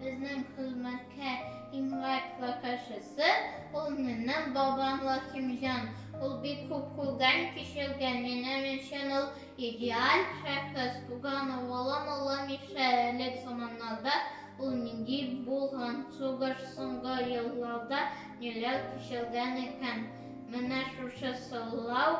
Безнең хезмәткә иң лайклы кешесе, ул минем бабам Лахимҗан. Ул бик күп күргән, кичергән. Минем өчен ул идеаль шәхес. Туган угылым Олы Миша элек заманнарда ул нинди булган, сугыш соңгы елларда ниләр кичергән икән? Менә шушы сорау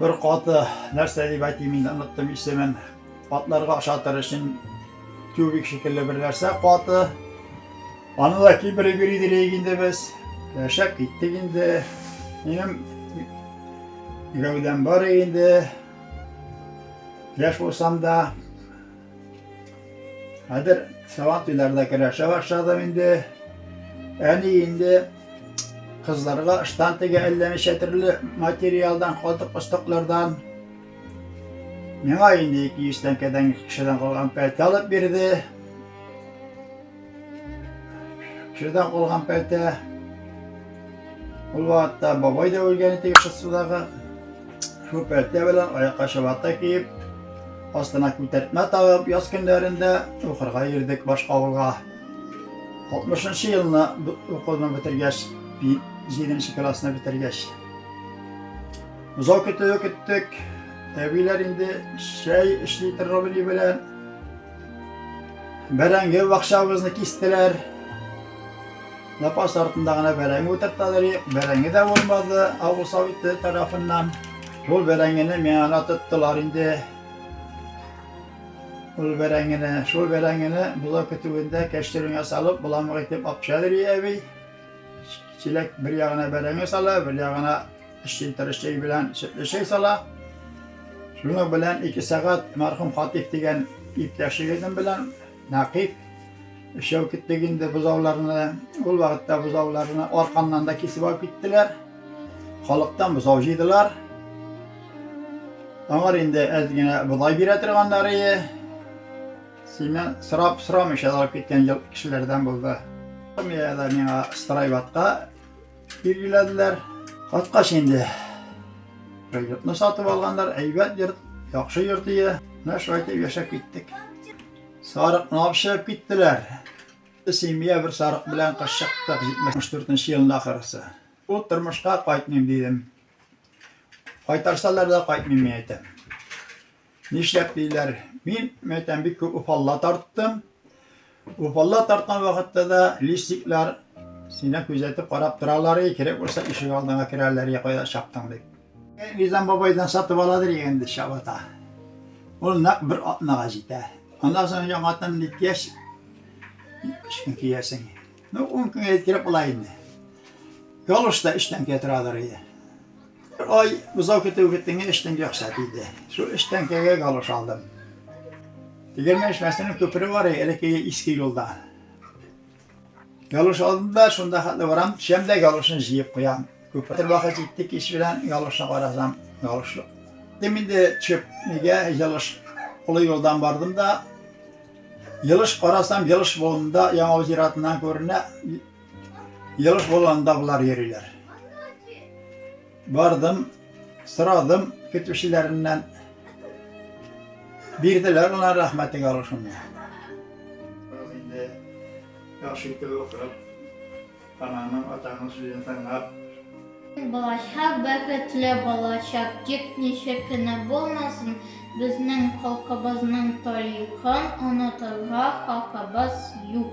Бер каты, нәрсә дип әйтим инде, оныттым исемен, атларга ашатыр өчен тюбик шикелле бер нәрсә каты. Аны да кибереп йөри дирек инде без. Яшәп киттек инде. Минем гәүдәм бар инде. Яшь булсам да, Хәзер Сабантуйлар да керәшә башладым инде. Әни инде кызларга ыштан тегә әллә ничә төрле материалдан, калдык остыклардан. Миңа инде 200 тәңкәдән кешедән калган пәлтә алып бирде. Җырдан калган пәлтә. Ул вакытта бабай да үлгән иде Кыссудагы. Шул пәлтә белән аякка чабата киеп, астына күтәртмә тагып, яз көннәрендә укырга йөрдек башка авылга. 60 елны укуны бетергәч, 7 классны бетергәч. Озак көтүе көттек. Әбиләр инде чәй эшли торган белән Бәрәңге бакчабызны кистеләр. Запас артында гына бәрәңге утырталар. Бәрәңге дә булмады авыл советы тарафыннан. Шул бәрәңгене миңа тоттылар инде. Ул бәрәңгене, шул бәрәңгене бозау көтүендә кәштереңә салып, буламык итеп апшалыр әби. Чиләк бер ягына бәрәңге сала, бер ягына Эшчелтыры чәй белән сөтле чәй сала. Шуның белән ике сәгать мәрхүм Хатиф дигән иптәш егетем белән Нәкыйп өчәү киттек инде бозауларны. Ул вакытта бозауларны арканнан да кисеп алып киттеләр. Халыктан бозау җыйдылар. Аңар инде әз генә бодай бирә торганнар ие. Синнән сорап сорамыйча алып киткән кешеләрдән булды. Миңа страйватка билгеләделәр. Каткач инде йортны сатып алганнар, әйбәт йорт, яхшы йорт ие. Менә шулай итеп яшәп киттек. Сарыкны алып чыгып киттеләр. Семья бер сарык белән кыш чыктык 74 елында ахырысы. Ул тормышка кайтмыйм дидем. Кайтарсалар да кайтмыйм мин әйтәм. Нишләп диләр, мин, мәйтәм, бик күп уфалла тарттым. Уфалла тарткан вакытта да листиклар сине күзәтеп карап торалар, и, кирәк булса ишек алдыңа керәләр, я кайда чаптың дип. Э, Низам бабайдан сатып аладыр егенде чабата. Ул нәкъ бер атнага җитә. Аннан соң яңадан никяш ишкин киясең. Ну, ун көнгә җиткереп була инде. Ялгыш та өч тәңкә торадыр иде. Бер ай бозау көтү көттеңә өч тәңкә акча тиде. Шул өч тәңкәгә галош алдым. Тегермән эшмәсенең күпере бар иде, элеккеге иске юлда. Галош алдым да, шунда хәтле барам, төшәм дә галошны җыеп куям. Күпер вакыт җитте, кич белән галошны карасам, галош юк. Дим инде төшеп, нигә галош? Олы юлдан бардым да, Елыш карасам, Елыш болында Яңавыл зиратыннан күренә. Елыш болында болар йөриләр. Бардым, сорадым көтүчеләреннән. Бирделәр гына рәхмәтегә алышымны. Яхшы итеп укып. Ананың, атаның сүзен тыңлап. Балача бәхетле балачак, тик ничек кенә булмасын, безнең халкыбызның тарихын онытырга хакыбыз юк.